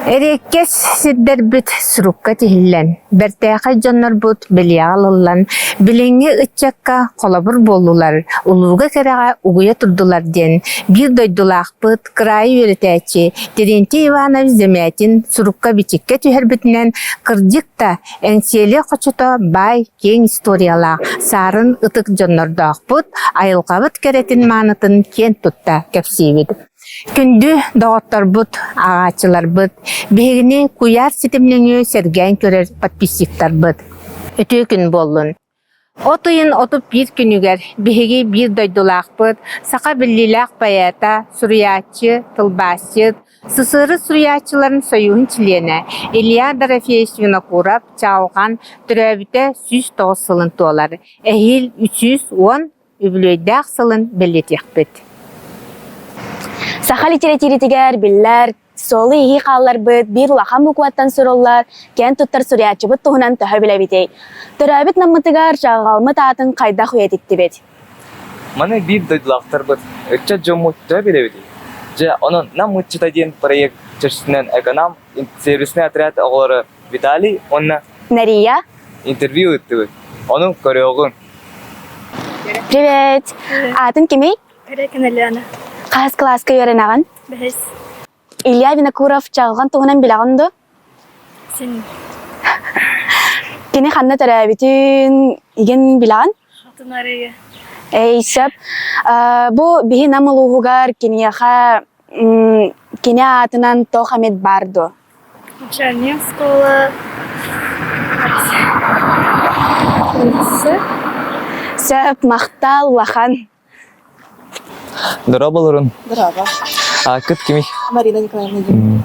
Эриэккэс сирдэрбит сурукка тиһиллэн, бэртээхэй дьоннорбут бэлиэҕэ ылыллан, билиҥҥи ыччакка холобур буоллулар, улууга кэрэҕэ угуйа турдулар диэн биир дойдулаахпыт, кыраайы үөрэтээччи Терентий Иванович Земятин сурукка-бичиккэ түһэрбитинэн, кырдьык да, Энсиэли хочото баай киэҥ историялаах Саарын ытык дьоннордоохпут айылҕабыт кэрэтин маанытын киэн тутта кэпсиибит. Күндү доҕотторбут, ааҕааччыларбыт, биһигини куйаар ситим нөҥүө сэргээн көрөр подписчиктарбыт. Үтүө күн буоллун! От ыйын отут биир күнүгэр биһиги биир дойдулаахпыт, саха биллиилээх поэта, суруйааччы, тылбаасчыт, СССР суруйааччыларын сойууһун чилиэнэ Илья Дорофеевич Винокуров-Чаҕылхан төрөөбүтэ сүүс тоҕус сылын туолар, эһиил үс сүүс уон үбүлүөйдээх сылын бэлиэтиэхпит. Саха литэрэтииритигэр биллэр суолу-иһии хаалларбыт биир улахан букваттан суруллар киэн туттар суруйааччыбыт туһунан төһө билэбитий? Төрөөбүт Наммытыгар чаҕылҕалмыт аатын хайдах үйэтиттибит? Маны биир дойдулаахтарбыт, ыччат дьоммут төһө билэбитий? Дьэ, онон Нам ыччата диэн проект чэрчитинэн Эконам сервиснэй отряд оҕолоро Виталий уонна Нария. Интервью ыыттыбыт. Ону көрүөҕүҥ. Привет! Аатын кимий? Река Налена. Хаас кылааска үөрэнэҕин? Бэһис. Илья Винокуров чаҕылҕан туһунан билэҕин дуо? Син. Кини ханна төрөөбүтүн игин билэҕин? Хотун арыйы. Эй, сөп. Бу биһи Нам улууһугар киниэхэ кини аатынан тоқ эмит бар дуо? Женевского сөп махтал улахан Дорообо олорун. Дорообо. Аккыт кими? Марина Николаевна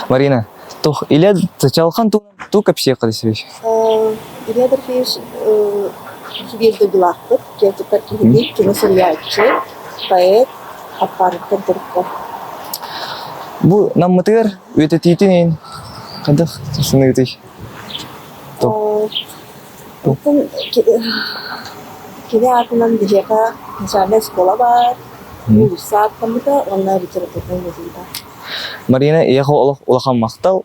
Марина, тух иле чалхан ту тук общака десвич? Редер Фиш субъектойдулаахпыт, театр киһини, кино суруйааччы, поэт Аппаровтар Дорко. Бу Наммытыгар үөтэтиитин иһин хадах саныытый? Кини аатынан биһиэхэ начальная школа баар, уулусса ааттаммыта, уонна литературнай музей баар. Марина ийэхэ олох улахан махтал.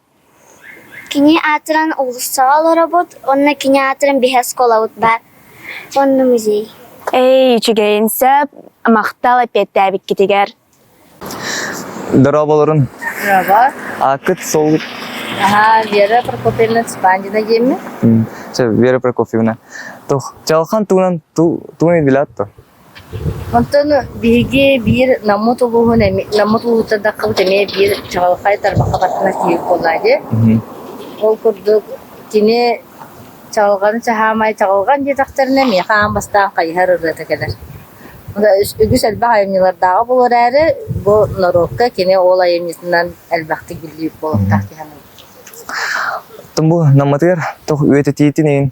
Кини аатыран уулуссаҕа олоробут уонна кини аатыран биһи оскуолабыт баар уонна музей Ээй, үчүгэйин сөп, махтал эппиэттээбиккитигэр. Дорооболорун. Дорообо. Ааккыт сол Аха, Вера Прокофьевна Спандина диэмми. Вера Прокофьевна. Тух, жалхан туунан ту туун идилаатто. Онтону биһиги биир Наммыт улууһун Наммыт улуутардаххыбыт эмиэ биир чаҕылхай тарбахха баттанар киһи буоллаҕа дии. Ол курдук кини чаҕылҕаны чаһаамай чаҕылҕан диэтэхтэринэ миэхэ аан бастаан хайыһар ырыата кэлэр. Үгүс элбэх айымньылардааҕа буолуо эрээри, бу норуокка кини ол айымньытынан элбэхтик биллибит буолуохтаах дии саныыбын. Оттон бу Наммытыгар туох үөт этиитин иһин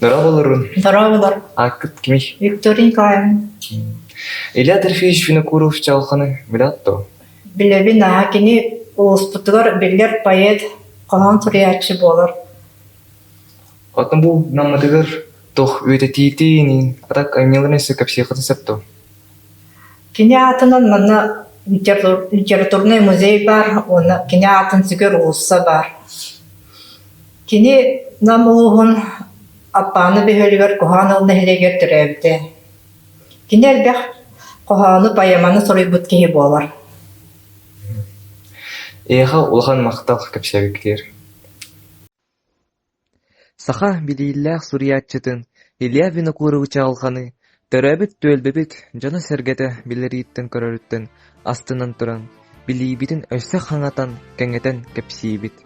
Дорооболорун. Дорооболор. Аккыт кими? Виктория Николаевна. Илья Трофеевич Винокуров Чалханы билатту? Билэбин аҕа кини улууспутугар биллэр поэт, хоһоон суруйааччы буолар. Отну бу наммытыгар тох үөтэтиитиинин атак анньыларын өссө кэпсиэххитин сөптө? Кини аатынан манна литературный музей бар уонна кини аатын сүгэр уулусса бар. Кини Нам улууһун Аппааны бөһүөлүгэр Куһаҕан Ыл нэһилиэгэр төрөөбүтэ. Кини элбэх хоһоону, поэманы суруйбут киһи буолар. Эйиэхэ улахан махтал кэпсээбиккитигэр. Саха билииллээх суруйааччытын Илья Винокурович аҕалҕаны Төрөөбүт түөлбэбит дьоно-сэргэтэ билэрииттэн-көрөрүттэн астынан туран, билиибитин өссө хаҥатан, кэҥэтэн кэпсиибит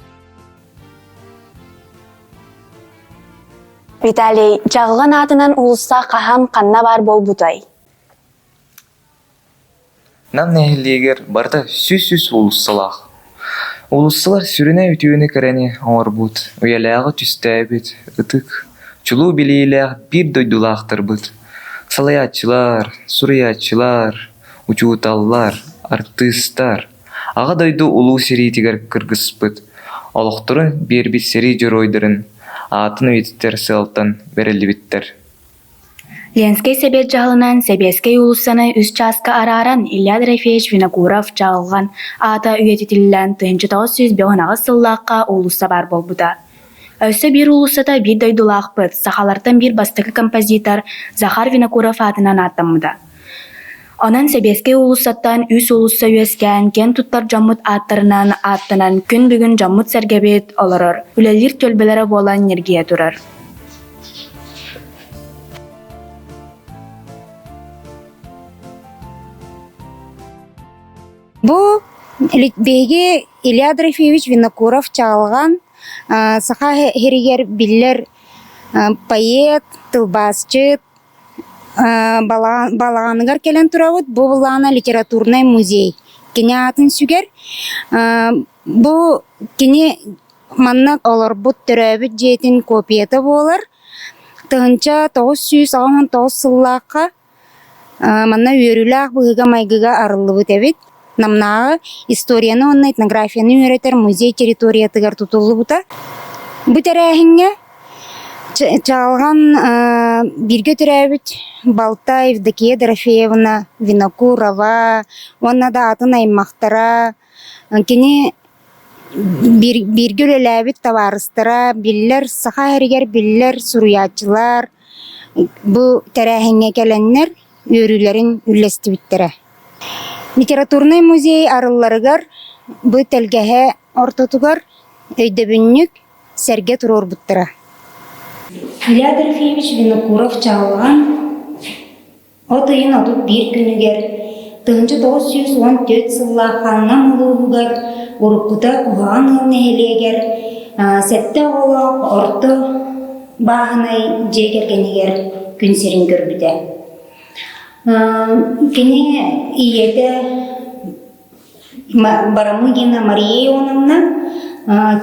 Виталий, Дьаҕылын аатынан уулусса хаһан, ханна баар буолбутай? Нам нэһилиэгэр барыта сүүс-сүүс уулуссалаах. Уулуссалар сүрүнэ үтүөнү кэрэни оҥорбут, үйэлээҕи түстээбит ытык, чулуу билиилээх биир дойдулаахтарбыт. Салайааччылар, суруйааччылар, учууталлар, артыыстар, Аҕа дойду Улуу сэриитигэр кыргыспыт, олохторун биэрбит сэрии дьоруойдарын аатын үйэтитэр сыалтан бэриллибиттэр. Ленскэй сэбиэт дьаһалынан Сэбиэскэй уулуссаны үс чааска арааран Илья Дорофеевич Винокуров Дьаалҕан аата үйэтитиллэн тыһыынча тоҕус сүүс бөҕүнаҕас сыллаахха уулусса баар буолбута. Өссө биир уулуссата биир дойдулаахпыт, сахалартан биир бастакы композитор Захар Винокуров аатынан ааттаммыта. Онон сэбиэскэй уулуссаттан үс уулусса үөскээн киэн туттар дьоммут ааттарынан ааттанан күн бүгүн дьоммут-сэргэбит олорор, үлэлиир түөлбэлэрэ буолан ньиргийэ турар Бу Литбейги Илья Дрофеевич Винокуров чаҕылҕан саха иһэригэр биллэр поэт, тылбаасчыт, Балаҕаныгар кэлэн турабыт, бу былаана литературнай музей. Кини аатын сүгэр. Бу кини манна олорбут, төрөөбүт дьиэтин копията буолар. Тыһыынча тоҕус сүүс аҕыс муон тоҕус сыллаахха манна үөрүүлээх быһыыга-майгыга арыллыбыт эбит. Намнааҕы историяны уонна этнографияны үөрэтэр музей территориятыгар тутуллубута. Бу тэрээһиҥҥэ Чаалҕан бииргэ төрөөбүт балта Евдокия Дорофеевна, Винокурова уонна да атын аймахтара, кини бииргэ үлэлээбит табаарыстара, биллэр Саха сиригэр биллэр суруйааччылар бу тэрээһиҥҥэ кэлэннэр үөрүүлэрин үллэстибиттэрэ. Литературнай музей арылларыгар бу тэлгэһэ ортотугар өйдөбүнньүк сэргэ туруорбуттара. Илья Дельфиевич Винокуров-Чаҕылҕан от ыйын отут биир күнүгэр 1904 сыллаах Ханнам улууһугар уруккута Уһаҕан ыал нэһилиэгэр сэттэ оҕолоох орто бааһынай дьиэ кэргэнигэр күн сирин көрбүтэ. Кини ийэтэ Барамыгина Мария Ионовна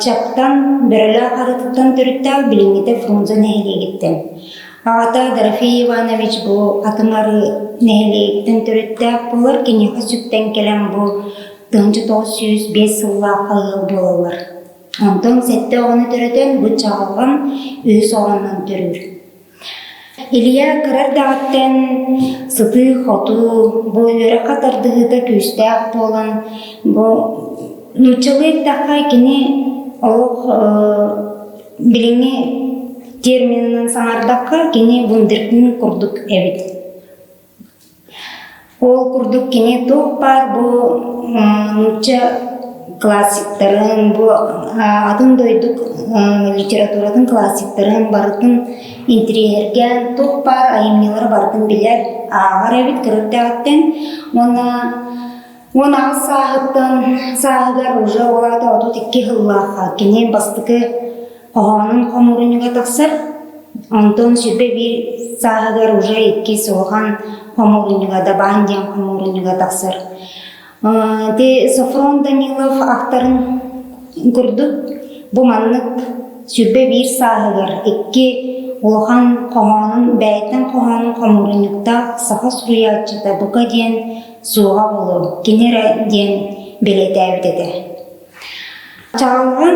Чаптан Бөрөлөөх Арытыттан төрүттээх билиҥҥитэ Фрунзе нэһилиэгиттэн. Аҕата Дорофей Иванович бу атынары нэһилиэгиттэн төрүттээх буолар, киниэхэ сүктэн кэлэн бу тыһыынча тоҕус сүүс биэс сыллаах ыал буолаллар. Антон сэттэ оҕону төрөтөн, быччаҕалҕан үһүс оҕонон төрүүр. Илья кыра эрдэҕиттэн сытыы-хотуу, бу үөрэх тардыһыыта күүстээх буолан, бу нууччалыы эттэххэ, кини олох билиҥҥи терминынан саҥардахха, кини вундеркинд курдук эбит. Ол курдук кини туох баар бу нуучча классиктарын, бу атын дойдук литературатын классиктарын барытын интириэһиргээн туох баар айымньылары барытын билэр, ааҕар эбит көрөрдөөҕүттэн уонна уон аҕыс сааһыттан сааһыгар уже ол аата отут икки сыллаахха кини бастакы хоһоонун хомуурунньуга тахсар, онтон сүрбэ биир сааһыгар уже иккис улахан хомуурунньуга Дабаан диэн хомуурунньуга тахсар. Ити Софрон Данилов автарын курдук бу маннык сүрбэ биир сааһыгар икки улахан хоһоонун бэйтэн хоһоонун хомуурунньуктаах саха суруйааччыта бука диэн суоҕа буолуо кини эрэ диэн бэлиэтээбит этэ Чаҕылҕан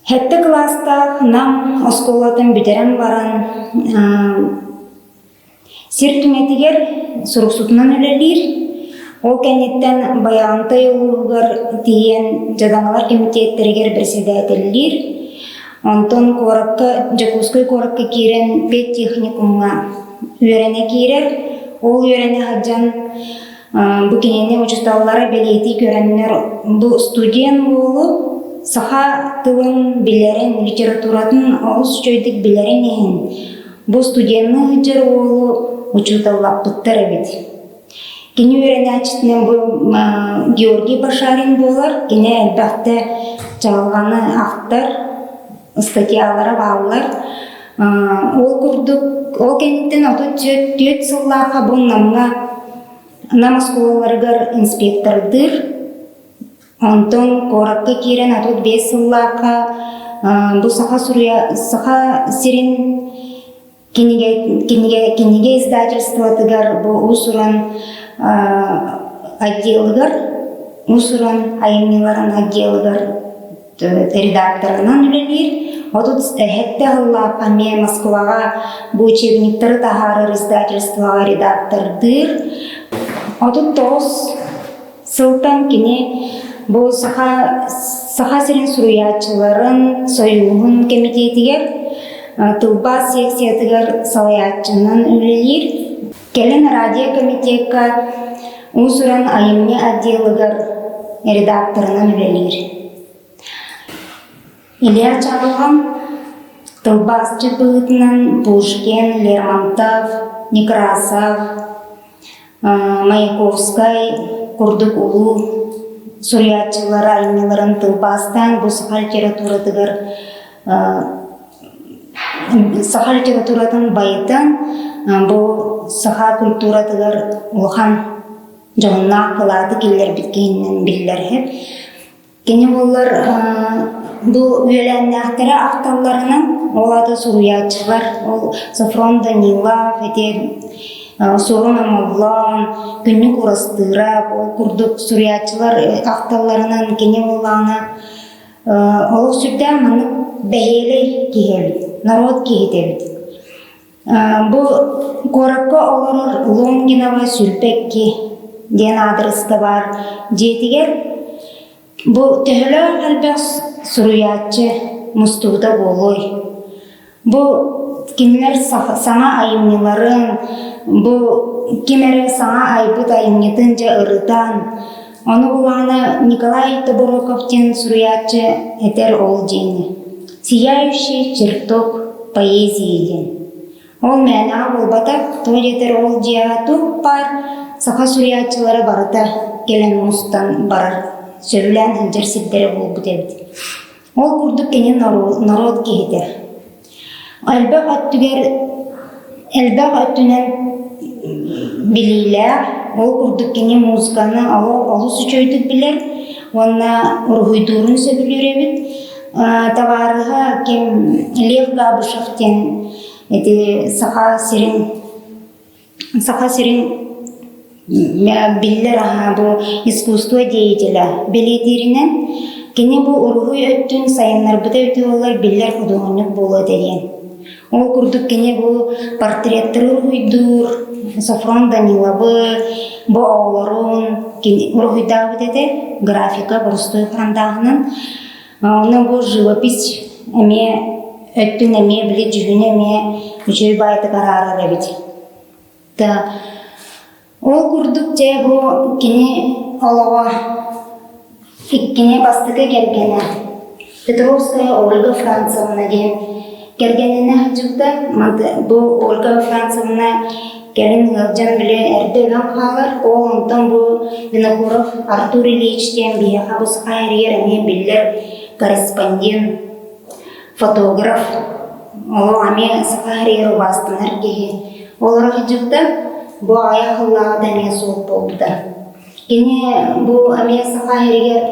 сэттэ кылаастаах Нам оскуолатын бүтэрэн баран сир түҥэтигэр суруксутунан үлэлиир. Ол кэнниттэн Байаҕантай улууһугар тиийэн дьадаҥылар кэмитиэттэригэр бэрэссэдээтэллиир. Онтон куоракка Дьокуускай куоракка киирэн педтехникумҥа үөрэнэ киирэр. Ол үөрэнэ сылдьан Бу кинини учууталлара бэлиэтии көрөннөр бу студент буолу саха тылын билэрин, литературатын олус үчүгэйдик билэрин иһин бу студенны ыытар уолу учууталлаппыттар эбит. Кини үөрэнээччитинэн бу Георгий Башарин буолар. Кини элбэхтэ чаҕылҕаны ахтар, статьялара бааллар. Ол курдук, ол кэнниттэн отут түөрт сыллаахха бу Намҥа Нам оскуолаларыгар инспектордыыр. Онтон куоракка киирэн отут биэс сыллаахха бу Саха суруя, Саха сирин Кинигэ, кинигэ, кинигэ издательствотыгар бу уус-уран отделыгар уус-уран айымньыларын отделыгар редакторынан үлэлиир. Отут эһэтте ыллаапа ме Москваға бу учебниктары таһаарар издательствоға редактордыыр. Отут тоғыз Сылтан кини бу Саха, Саха сирин суруйааччыларын сойууһун кэмитиэтигэр тылбаас секциятыгар салайааччынан үлэлиир. Кэлин радиокомитекка уус-уран айымньы отделыгар редакторынан үлэлиир. Илья Чалыгым, тылбаасчыт быһыытынан Булшкин, Лермонтов, Некрасов, Маяковскай курдук улуу суруйааччылар айымньыларын тылбаастаан бу саха литературатыгар саха литературатын байытан бу саха культуратыгар улахан дьоһуннаах кылааты киллэрбит киһинэн биллэрһит Кини буоллар бу үөлээннээхтэрэ ахталларынан ол аата суруйааччылар ол Софрон Данилов ити Суорун Омоллоон, Күннүк Урастыырап ол курдук суруйааччылар ахталларынан кини буоллаҕына олох сүрдээх маннык бэһиэлэй киһи эбит, норуот киһитэ эбит. Бу куоракка олорор Лунгиновы Сүлпэкки диэн аадырыста баар дьиэтигэр бу төһөлөөх элбэх суруйааччы мустубута буолуой? Бу кинилэр саҥа айымньыларын, бу ким эрэ саҥа айбыт айымньытын дьэ ырытан, Ону кулаана Николай Тобороков диэн суруйааччы этэр ол диэни «Сияющий чертог поэзии» диэн. Ол мээнэҕэ буолбатах, тоҕо диэтэр ол дьиэҕэ туох баар саха суруйааччылара барыта кэлэн мустан барар, сөбүлээн сылдьар сирдэрэ буолбут эбит Ол курдук кини норуот киһитэ. Элбэх өттүгэр элбэх өттүнэн билиилээх, ол курдук кини музыканы олус үчүгэйдик билэр уонна уруһуйдуурун сөбүлүүр эбит. Табаарыһа ким Лев Габышев диэн ити Саха сирин Саха сирин биллэр аһа бу искусство деятеля бэлиэтииринэн, кини бу уруһуй өттүн сайыннарбыта үтүө буолар биллэр худуоһунньук буолуо диэн. Ол курдук кини бу портреттары уруһуйдуур Софрон Данилабы, бу оҕолорун, кини уруһуйдаабыт этэ графика борустуой харандааһынан Ону бу живопись эмиэ өттүн эмиэ били дьүһүнү эмиэ үчүгэй баайдык араарар эбит. Да ол курдук дьэ бу кини олоҕо иккини бастакы кэргэнэ Петровская Ольга Францевна диэн Кэргэнинэ сылдьыбыта. Бу Ольга Францевна кэлин ыалдьан билигин эрдэ өлөн хаалар. Ол онтон бу Винокуров Артур Ильич диэн биһиэхэ бусха эрийэр эмиэ биллэр корреспондент, фотограф, олох эмиэ саха эрийэр убаастанар киһи. Олоро сылдьыбыта. Бу аҕай сыллааҕыта эмиэ суох буолбута. Кини бу эмиэ саха эрийэр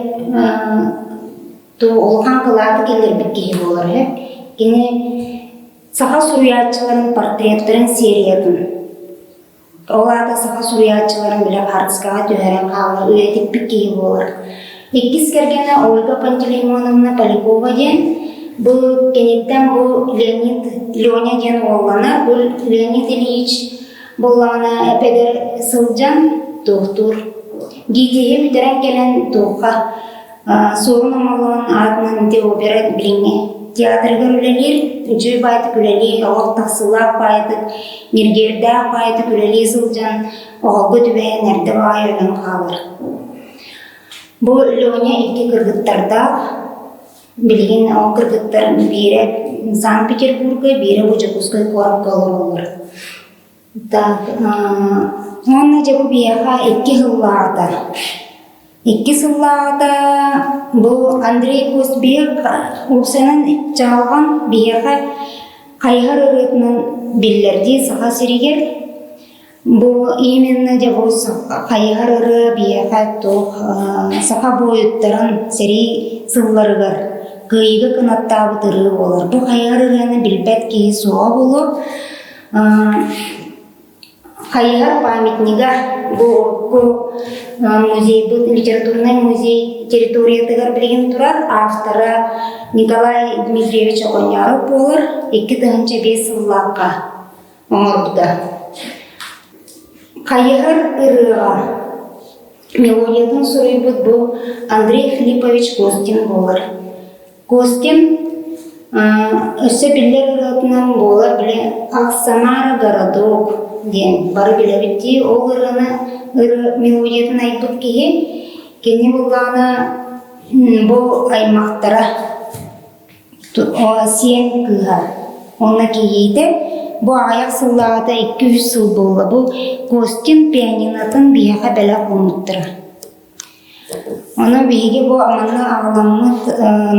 улахан кылааты киллэрбит киһи буолар үһү. Кини саха суруйааччыларын портреттарын сериятын ол аата саха суруйааччыларын били хаартыскаҕа түһэрэн хаалар үйэтиппит киһи буолар. Иккис кэргэнэ Ольга Пантелеймоновна Полякова диэн бу киниттэн бу Леонид Леня диэн уоллана бу Леонид Ильич буллаҕына эпэдэр сылдьан туохтуур. Гитиһи бүтэрэн кэлэн туохха Суорун Омоллоон аатынан Деобера билиҥҥи театрыгар үлэлиир, үтүө баайдык үлэлии, оҕо тахсыылаах баайдык, ньиргиэрдээх баайдык үлэлии сылдьан, оҕолго түбэһэн эрдэ баҕайы өлөн хаалар. Бу Леня икки кыргыттардаах, билигин ол кыргыттар биирэ Санкт-Петербурга, биирэ Бочокуускай куоракка олороллор. Уонна дьэ бу биһиэхэ икки сыллаата. Икки сыллаата бу Андрей Кузбек УСА-нан чаҕылҕан биһиэхэ хайыһар ырыатынан биллэрдии Саха сиригэр бу именно дьэ бу хайыһар ырыа биһиэхэ туох саха буойуттарын сэрии сылларыгар кыайыыга кынаттаабыт ырыа буолар. Бу хайыһар ырыаны билбэт киһи суоҕа буолуо. Хайыһар памятнига бу урукку музейбыт, литературнай музей территориятыгар билигин турар автора Николай Дмитриевич Оҕонньоороп буолар икки тыһыынча биэс сыллаахха оҥорбута. Хайыһар ырыаҕа мелодиятын суруйбут бу Андрей Филиппович Костин буолар. Костин өссө биллэр ырыатынан буолар били Оксамара городок диэн бары билэбит дии ол ырыаны ырыа мелодиятын айбыт киһи кини былаана бу аймактара сиэн кыыһа уонна киһитэ бу аҕыйах сыллааҕыта икки үс сыл буолла бу Костин пианинатын биһиэхэ бэлэх уунуктара Ону биһиги бу аманыы аҕаламмыт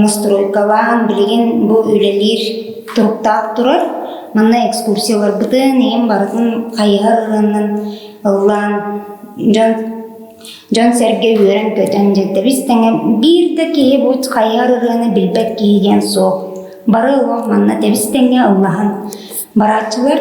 ностурууккалаан билигин бу үлэлиир туруктаах турар. Манна экскурсияларбытын, ийэм барытын хайыһар ырыаннан ыллаан дьон дьон-сэргэ үөрэн-көтөн дьэдэбис тэҥэ биир да киһи бу хайыһар ырыаны билбэт киһи диэн суох. Бары олох манна тэбис тэҥҥэ ыллаһан барааччылар.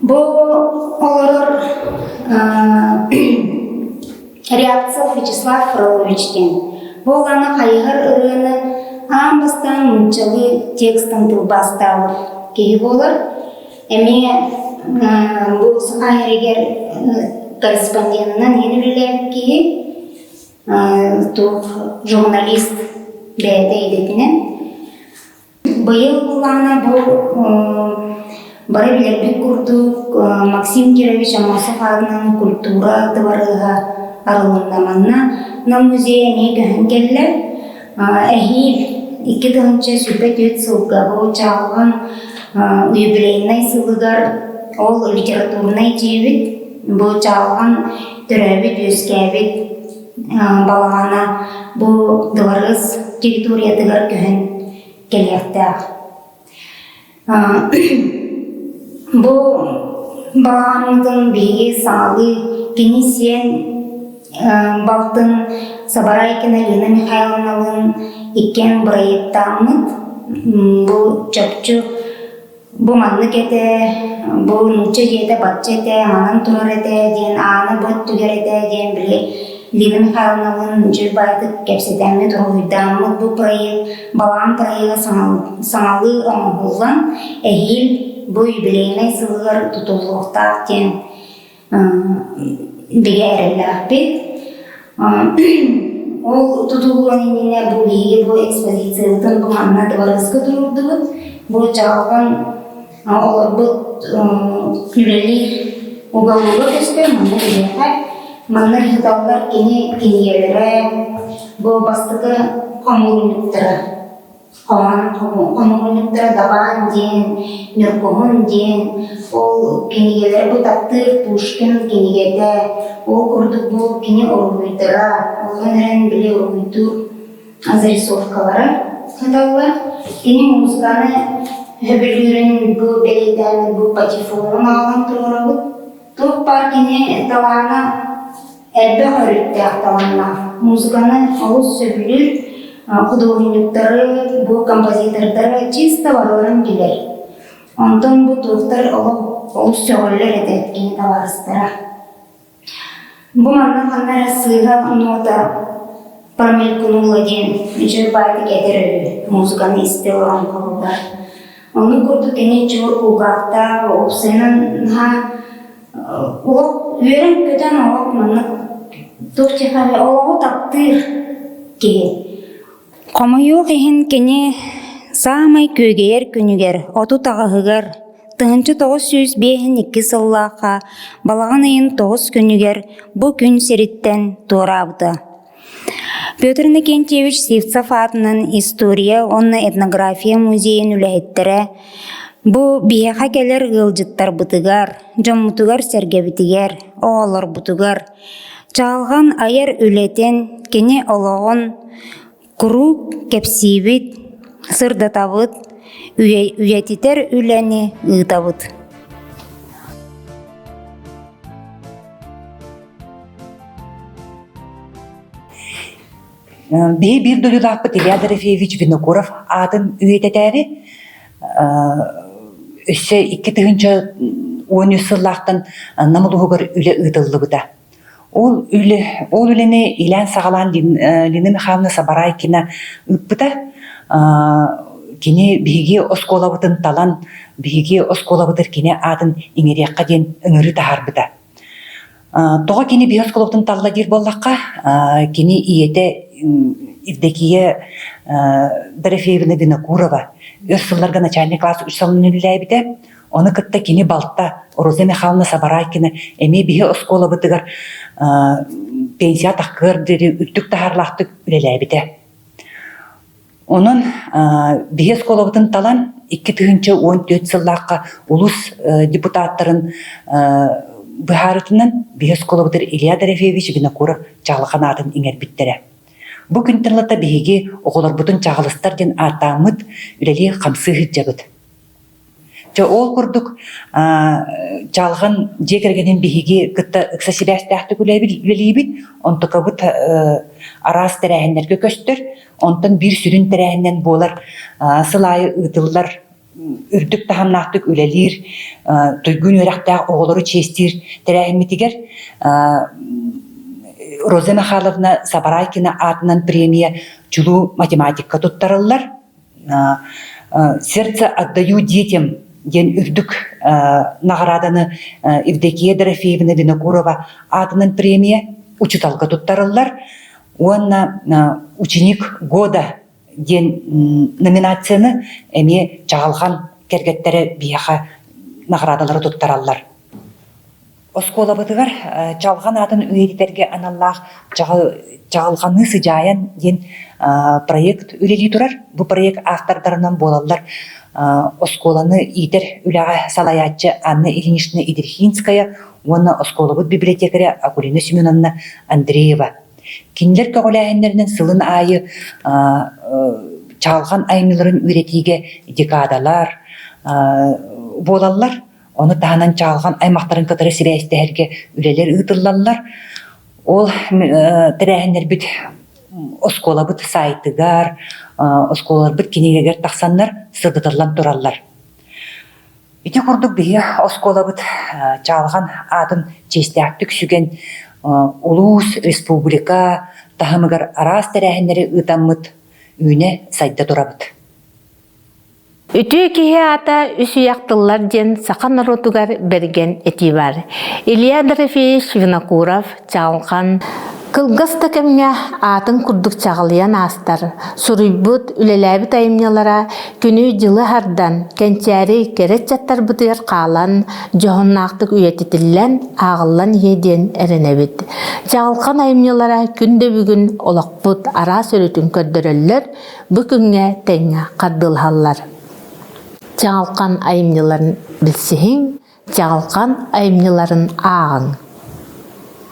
Бу олорор Рябцов Вячеслав Фролович диэн. Бу улаана хайыһар ырыаны аан бастаан нууччалыы текстан тылбаастаабыт киһи буолар. Эмиэ бу саха эригэр корреспонденынан иһин үлэлээбит киһи, туох журналист бэйэтэ идэтинэн. Быйыл былаана бу бары билэрбит курдук Максим Кирович Аммосов аатынан культура дыбарыаһа арылынна манна Нам музей эмиэ көһөн кэллэ. Эһиил икки тыһыынча сүүрбэ түөрт сылга бу чааһын юбилейнай сылыгар ол литературнай дьиэбит бу чааһын төрөөбүт үөскээбит балаҕана бу Дыбарыыс территориятыгар көһөн кэлиэхтээх. Бу балаҕанытын биһиги саалыы кини сиэн балтын Сабарайкина Лина Михайловналыын иккиэн бырайыактааммыт. Бу чопчу Бу маннык этэ, бу нуучча дьиэтэ бачча этэ, манан турар этэ диэн ааны бу өттүгэр этэ диэн били Лина Михайловналыын дьиэ убайытык кэпсэтэммит, уруһуйдааммыт бу проект. Балаан проега саҥалыы оҥоһуллан, эһиил бу юбилейнай сылыгар тутуллуохтаах диэн бигэ эрэллээхпин. Ол тутулуон иннинэ бу биһиги бу экспедициябытын бу манна Дыбарыска туруордубут. Бу дьаалҕан олорбут үлэлиир уголуга көстөр, манна биһиэхэ. Манна ыыталлар кини кинигэлэрэ, бу бастакы хомуурунньуктара. Хомуурунньуктар Дабаан диэн, Ньургуһун диэн, ол кинигэлэри бу таптыыр Пушкин кинигэтэ, ол курдук бу кини уруһуйдара, онон эрэн били уруһуйдуур зарисовкалара саталлар. Кини музыканы сөбүлүүрүн бу бэлиэтээммит бу патефонун аалан туруорабыт. Туох баар кини талаана элбэх өрүттээх талааннаах музыканан олус сөбүлүүр худуоһунньуктары бу композитордары чисто барыларын билэр онтон бу туохтар олох олус сөҕөллөр этэ кини табаарыстара бу манна ханна эрэ сыыһа нота промелькнула диэн дьырбаатык этэр үһү музыканы истэ олорон хаалбыт онну курдук кини чуор кулгаахтаах уопсайынан наһаа Уол үөрэн-көтөн оҕо маннык туох чехове олоҕу таптыыр киһи. Хомойуох иһин кини саамай күөгэйэр күнүгэр отут аҕаһыгар тыһыынча тоҕус сүүс биэһин икки сыллаахха балаҕан ыйын тоҕус күнүгэр бу күн сириттэн туораабыта. Петр Иннокентьевич Сивцев аатынан история уонна этнография музейын үлэһиттэрэ бу биһиэхэ кэлэр ыалдьыттарбытыгар, дьоммутугар-сэргэбитигэр, оҕолорбутугар чаҕылҕан айар үлэтин, кини олоҕун куруук кэпсиибит, сырдатабыт, үйэтитэр үлэни ыытабыт. Бэйэ биир дойдулаахпыт Илья Дорофеевич Винокуров аатын үйэтэтээри өссө икки тыһыынча уон үс сыллаахтан Нам улууһугар үлэ ыытыллыбыта. Ол үлэ ол үлэни илээн-саҕалаан Лина Михайловна Сабарайкина ыыппыта. Кини биһиги оскуолабытын талан, биһиги оскуолабытыр кини аатын иҥэриэххэ диэн ыҥырыы таһаарбыта. Тоҕо кини биир осколоттан талла диир буоллахха, кини ийэтэ Евдокия Дорофеевна Винокурова өр сылларга начальник класс үс салынан үлэлээбитэ. Оны кытта кини балта Роза Михайловна Сабарайкина эмиэ биһи оскуолабытыгар пенсия тахкыар диэри үрдүк таһаарлаахтык үлэлээбитэ. Онон биһи оскуолабытын талан икки тыһыынча уон түөрт сыллаахха улус депутаттарын быһаарытынан биһи оскуолабытыр Илья Дорофеевич Винокуров чаҕылхан аатын иҥэрбиттэрэ. Бу күн тыллата биһиги оҕолорбутун чаҕылыстар диэн ааттааммыт үлэлии хамсыы сыһдьабыт. Чэ, ол курдук чаалҕан дьиэ кэргэнин биһиги кытта ыкса сибээстээхтик үлэлиибит, онтукабыт араас тэрээһиннэргэ көстөр, онтон биир сүрүн тэрээһининэн буолар сыл аайы ыытыллар үрдүк таһымнаахтык үлэлиир туйгун үөрэхтээх оҕолору чиэстиир тэрээһиммитигэр Роза Михайловна Сабарайкина аатынан премия чулуу математикка туттарыллар. Сердце отдаю детям диэн үрдүк наҕарааданы Евдокия Дорофеевна Винокурова аатынан премия учуталга туттарыллар уонна «Ученик года» диэн номинацияны эмиэ Чаҕылхан кэргэттэрэ биһиэхэ наҕараадалары туттараллар. Оскуолабытыгар Чалҕан аатын үйэтитэргэ аналлаах Чаҕылҕаныы сыдьаайан диэн проект үлэлии турар. Бу проект автордарынан буолаллар оскуоланы иитэр үлэҕэ салайааччы Анна Ильинична Идрихинская уонна оскуолабыт библиотекаря Акулина Семеновна Андреева. Кинилэр көҕүлээһиннэринэн сылын аайы чаалҕан аймыыларын үйэтиигэ декадалар буолаллар. Ону таһынан чаалҕан аймахтарын кытары сирэ истэһэргэ үлэлэр ыытыллаллар. Ол тэрээһиннэрбит оскуолабыт сайтыгар, оскуолаларбыт кинигэгэр тахсаннар сырдатыллан тураллар. Ити курдук биһиги оскуолабыт чаалҕан аатын чиэстээхтик сүгэн улуус, республика таһымыгар араас тэрээһиннэри ыытаммыт үүнэ сайда турабыт. Үтүө киһи аата үс үйэх тыллар диэн саха норуотугар бэргэн этии баар. Илья Дорофеевич Винокуров чаҕылхан кылгас да кэмҥэ аатын курдук чаҕылыйан аастар, суруйбут, үлэлээбит айымньылара күнү-дьылы хардан, кэнчээри кэрэ ыччаттарбытыгар хаалан, дьоһуннаахтык үйэтитиллэн, ааҕыллан иһиэ диэн эрэнэбит. Чаҕылхан айымньылара күн да бүгүн олохпут араас өрүтүн көрдөрөллөр, Бу күҥҥэ тэҥҥэ хардылаһаллар. Чаҕылхан айымньыларын билсиһиҥ, чаҕылхан айымньыларын ааҕыҥ.